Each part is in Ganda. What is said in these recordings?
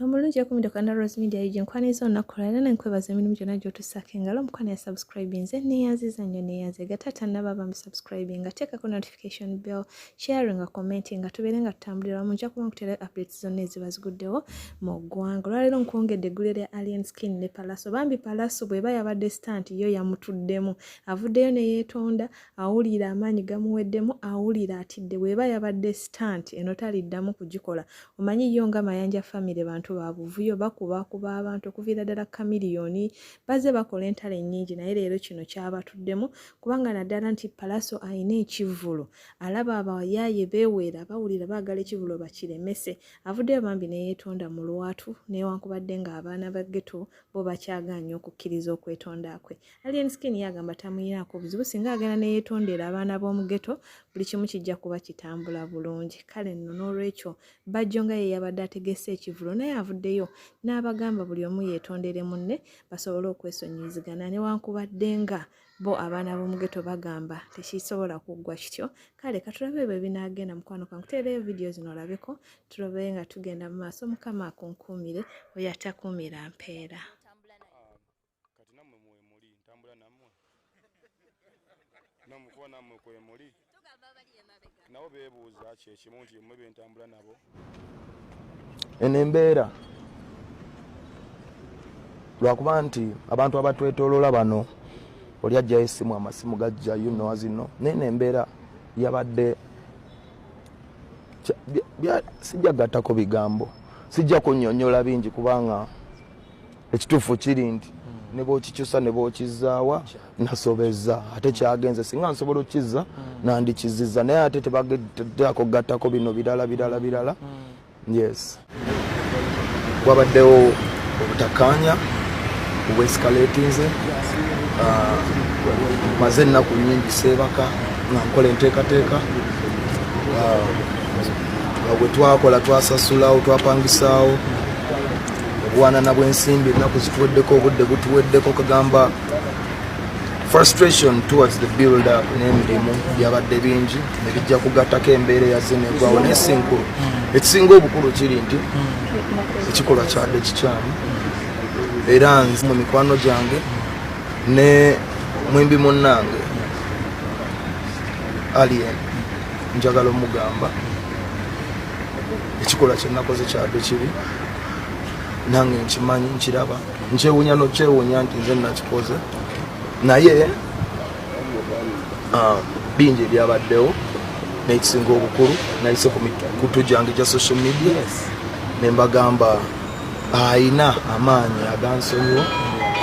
omulungi yakumiddeko na rose media ug nkwaniza olunaku lwala na nkwebaza emirimu gyonna gyotusaako engalo omukwano ya subscribe nze neyanziza nnyo neyanzega taata naba bambi subscribe nga teekako notification bell sharing nga comment nga tubeere nga tutambulira wamu nja kuba nkutera updates zonna eziba ziguddewo mu ggwanga olwaleero nkwongedde eggule lya alien skin ne palaso bambi palaso bweba yabadde stant yo yamutuddemu avuddeyo neyeetonda awulira amaanyi gamuweddemu awulira atidde bweba yabadde stant eno taliddamu kugikola omanyi yo nga mayanja famire bantu babuvuyo bakubakuba abantu okuviira ddala kamiliyoni baze bakola entalo ennyingi naye leero kino kyabatuddemu kubanga naddala nti palaso alina ekivvulu alaba abayaaye beweera bawulira baagala ekivvulu bakiremese avuddeyo bambi neyeetonda mu lwatu newankubadde ng'abaana ba geto bo bakyagaanya okukkiriza okwetonda kwe Alien Skin yagamba tamuyinaako buzibu singa agenda ne yeetondera abaana b'omugeto buli kimu kijja kuba kitambula bulungi kale nno n'olwekyo bajjo nga ye yabadde ategese ekivulo naye avuddeyo n'abagamba buli omu yeetondere munne basobole okwesonyiyizigana newankubadde nga bo abaana b'omugeto bagamba tekisobola kuggwa kityo kale katulabe ebyo ebinaagenda mukwano kankuteereyo vidiyo zino olabeko tulabe nga tugenda mu maaso mukama akunkuumire oyo atakuumira mpeera kati namwe mwemuli ntambula namwe namwe kuba namwe kwemuli nabo bebuuza kyekimu nti mwe bentambula nabo eno embeera lwakuba nti abantu abatwetolola bano oli ajjayo esimu amasimu gajja yunoazino naye nembeera yabadde sijja gattako bigambo sijja kunyonyola bingi kubanga ekituufu kiri nti hmm. ne bwokikyusa ne bwokizaawa nasobeza ate kyagenze singa nsobola okukizza hmm. nandikizizza naye ate tebagedako gattako bino birala birala hmm. birala yes wabaddewo obutakaanya obwescalatinze ah, maze ennaku nyingi seebaka nga nkola enteekateeka ah, bwe twakola twasasulawo twapangisaawo okuwanana bwensimbi ennaku zituweddeko obudde butuweddeko kagamba frustration towards the builder n'emirimu byabadde bingi nebijja kugattako embeera eyaze negwawo naye sinkulu ekisinga obukulu kiri nti ekikolwa kyadde kikyamu era nze mu mikwano gyange ne mwimbi munnange alien njagala omugamba ekikolwa kyenakoze kyadde kibi nange nkimanyi nkiraba nkyewunya nokyewunya nti nze nakikoze naye ah, bingi ebyabaddewo nekisinga obukulu nayise kukutu gyange gya social media nembagamba ayina amaanyi agansonyiwo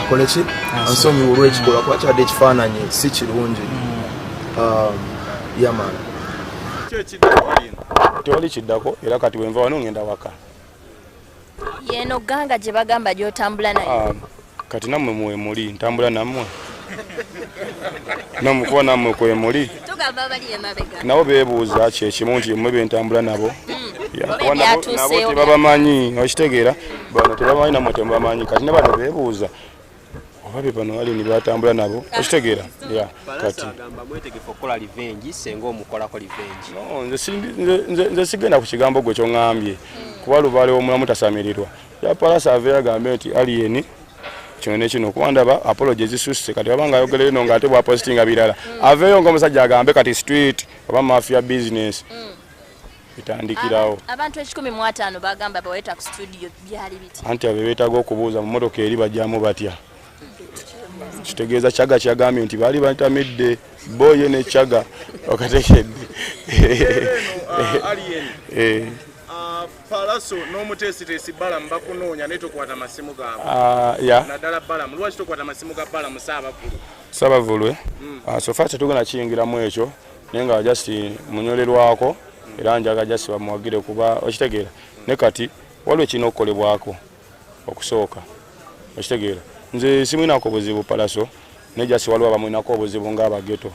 akoleki ansonyiwo olwekikolwa kuba kyadde ekifaananyi si kirungi mm. ah, yamana tewali kiddako era kati wenva wano ngenda waka yeno ganga gye bagamba gyotambula naye ah, kati namwe mwemuli ntambula namwe namukuba namwe kwemuli nabo bebuuza kyekimu nti mwe bentambula nabo hmm. nabo tebabamanyi okitegeera bano tebamanyi namwe temubamanyi kati ne bano bebuuza oba be bano alini batambula nabo okitegeera ya kati nze sigenda ku kigambo gwe kyoŋambye kuba lubaale womulamu tasamirirwa yapalasa aveyo agambe nti aliyeni kino nekino kuba ndaba apology ezisusse kati aba nga ayogera ino nga ate bwapositinga birala aveyo ngaomusajja agambe kati street oba mafia business mm. bitandikirawo abantu ekikumi mu ataano bagamba baweta ku studio byali biti anti abe beetaga okubuuza mu motoka eri bajjamu batya kitegeeza kyaga kyagambye nti baali batamidde boye ne kyaga okatekedde palaso n'omuteesiteesi balamu bakunoonya naye tokwata masimu gaabwe ah, naddala balamu lwaki tokwata masimu ga balamu saabavulu saabavulwe hmm. ah, sofa tetugenda kiyingiramu ekyo naye nga just munyolerwako era njaga just bamuwagire kuba okitegeera ne kati waliwo kirina okukolebwako okusooka okitegeera nze simulinako buzibu palaso naye just waliwo abamulinako obuzibu ngaabageto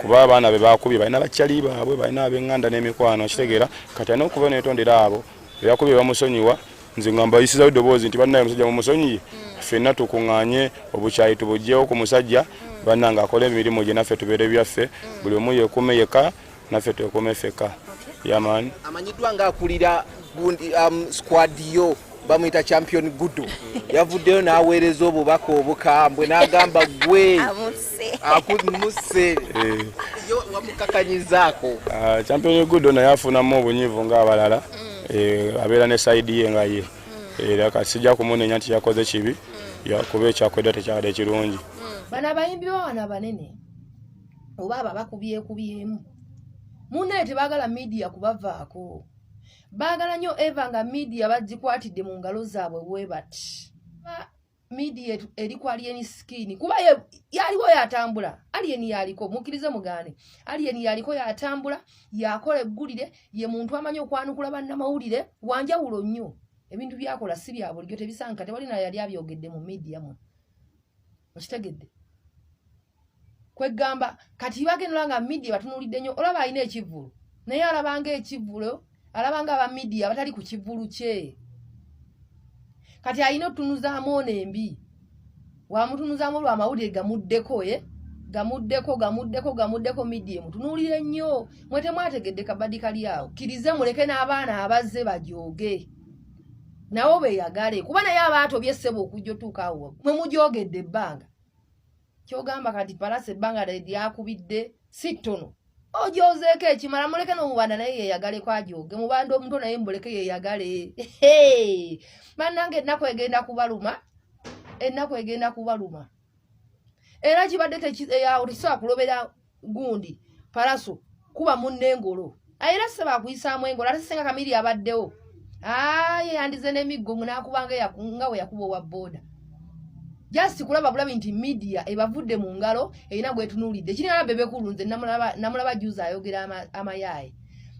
kuba abaana be bakubye balina bakyali baabwe balina abenganda n'emikwano okitegeera kati alina okuba netondera abo bebakubye bamusonyiwa nze nga mbayisizawo eddoboozi nti bannaye omusajja mumusonyiye hmm. ffenna tukunganye obukyayi tubugyewo ku musajja hmm. bannange akola emirimu gye naffe tubeere byaffe hmm. buli omu yekuume yeka naffe twekuume feka yaman amanyiddwa nga akulira um, squad yo bamuyita champion gudu yavuddeyo n'aweereza obubaka obukambwe n'agamba gwe akumusse eh. yo wamukakanyizaako ah, champion gudo naye afunamu obunyivu ng'abalala mm. eh, abeera ne saidi ye nga ye mm. eh, era kati sijja kumunenya nti yakoze kibi mm. yakuba ekyakwedda tekyabadde kirungi bano abayimbi bawana banene oba abo abakubyekubyemu munaye tebagala midiya kubavaako baagala nnyo eva nga midiya bagikwatidde mu ngalo zaabwe webati media eri ku alien skin kuba yaliwo yatambula alien yaliko mukirize mugane alien yaliko yatambula yakola eggulire ye muntu amanyi okwanukula bannamawulire wanjawulo nnyo ebintu byakola si bya bulijjo tebisanka tewali nayo yali abyogedde mu media mu okitegedde kwegamba kati bagenula nga media batunulidde nnyo olaba alina ekivvulu naye alabanga ekivvulo alabanga aba media abatali ku kivvulu kye kati alina otutunuzaamu ono embi wamutunuzaamu olwo amawulire gamuddeko e gamuddeko gamuddeko gamuddeko media emutunuulire nnyo mwe temwategedde kabadi kali awo kirize muleke n'abaana abazze bajooge nawo beyagale kuba naye abaatobye ssebo okujja otuuka awo mwe mujoogedde ebbanga kyogamba kati palasi ebbanga lyakubidde si ttono ojozeeko ekimala muleke nomubanda naye yeyagaleko ajoge mubanda omuto naye muleke yeyagale banange ennaku egenda kubaluma ennaku egenda kubaluma era kibadde eyawo tekisobola kulobera gundi palaso kuba munne engolo era saba akuyisaamu engolo ate senga kamiri abaddewo aye yandize n'emiggo ngunakubanga nga we yakuba owa booda just kulaba bulabi nti media ebavudde mu ngalo erina gwetunuulidde kiri naba bebekulu nze namulaba juzi ayogera amayaaye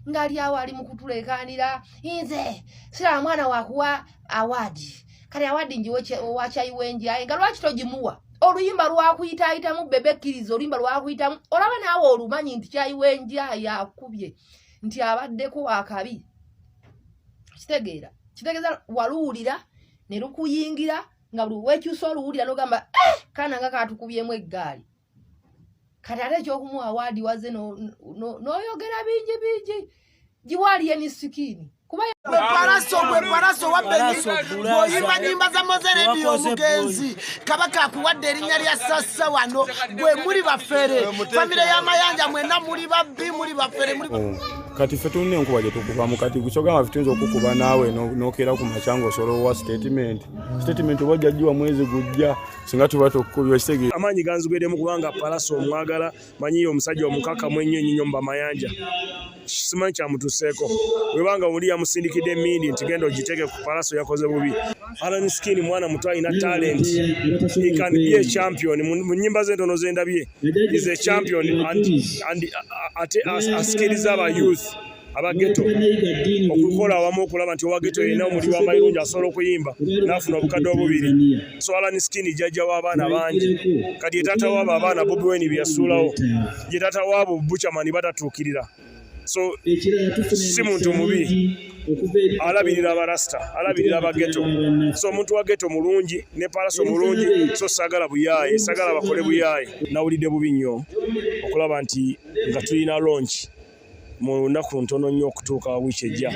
ngali awo ali mu kutuleekaanira nze siraba mwana wakuwa awaadi kale awadi njiwe owakyayiwenji aye nga lwaki togimuwa oluyimba lwakuyitaayitamu bebe kkiriza oluyimba lwakuyitamu olaba naawe olumanyi nti kyayiwenji aye akubye nti abaddeko wakabi kitegeera kitegeeza waluwulira ne lukuyingira nga buli wekyusa oluwulira nogamba eh, kana nga katukubyemu eggaali kati ate ekyokumuwa awaadi waze n'oyogera bingi bingi giwaali yenisikini gwepalaso gwepalaso wabeoyimba nyimba za mozerebi omugenzi kabaka akuwadde erinnya lya sassa wano gwe muli bafere famire y'amayanja mwena muli babbi muli bafere oh, kati fe tulina enkuba gyetukubamu kati kyogamba fetuyinza okukuba naawe nokeera ku makyanga osolowowa sitatimenti sitatimenti oba ojja giwa mwezi gujja singa tuba tukubye okitegeera amaanyi ganzigwedemu kubanga palasi omwagala manyi yo omusajja omukakamu ennyo enyinyo mu bamayanja simanyi kyamutuseeko webanga oli yamusindikidde emindi nti genda ogiteeke ku palasi yakoze bubi alan skin mwana muto alina talent he can be a champion mu nyimba ze entono zendabye is a champion and, and, uh, ate asikiriza aba youth abageto okukola awamu okulaba nti owageto yena omuli wamayirungi asobola okuyimba nafuna obukadde obubiri swalani skin jajja w'abaana bangi kati yetaata waabo abaana bobi weni byeyasuulawo yetaata waabo bucamani batatuukirira so si muntu mubi alabirira abarasita alabirira abageto so omuntu wa geto mulungi ne palaso mulungi so sagala buyaaye sagala bakole buyaaye nawulidde bubi nnyo okulaba nti nga tulina longi mu nnaku ntono nnyo okutuuka wiiki ejja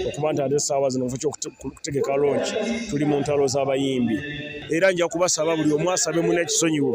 okuba nti ate essaawa zino nfu kyokutegeka lonki tuli mu ntalo z'abayimbi era nja kubasaba buli omu asabe muna ekisonyiwo